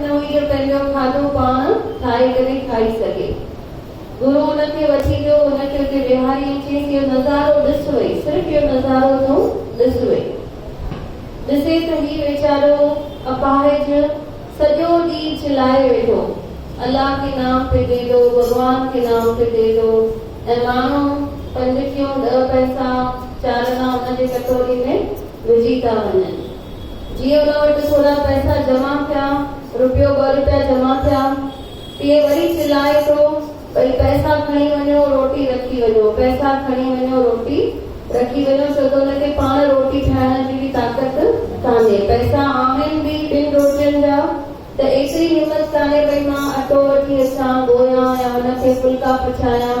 نه هئي جو پنهنجو کاڌو پاڻ ٺاهي ڪري کائي سگهي. گرو ان کي وٺي ويو، هن کي اتي ويهاري ۽ چيس اهو نظارو ڏس وئي، صرف اهو نظارو تون ڏس وئي. ڏسي ته هي ويچارو اپاهج سڄو ڏينهن چلائي ويٺو، الله ڪي نام پي دي دو، ڀڳوان ڪي نام پي دي دو ۽ ماڻهو پنج ڪيون ڏهه پئسا چار انا ان جي ڪٽوري ۾ وجهي ٿا وڃن. جيئن ان وٽ سونا پئسا جمع ٿيا، روپيو ٻه روپيا جمع ٿيا، تيئن وري چلائي ٿو، ڀئي پئسا کڻي وڃو، روٽي رکي وڃو، پئسا کڻي وڃو، روٽي رکي وڃو، ڇو ته ان کي پاڻ روٽي ٺاهڻ جي به طاقت ڪانهي، پئسا آهن به ٻن روٽين جا ته ايتري همت ڪانهي ڀئي مان اٽو وٺي اچان، ڳوهيان يا ان کي ڦلڪا پڇايان.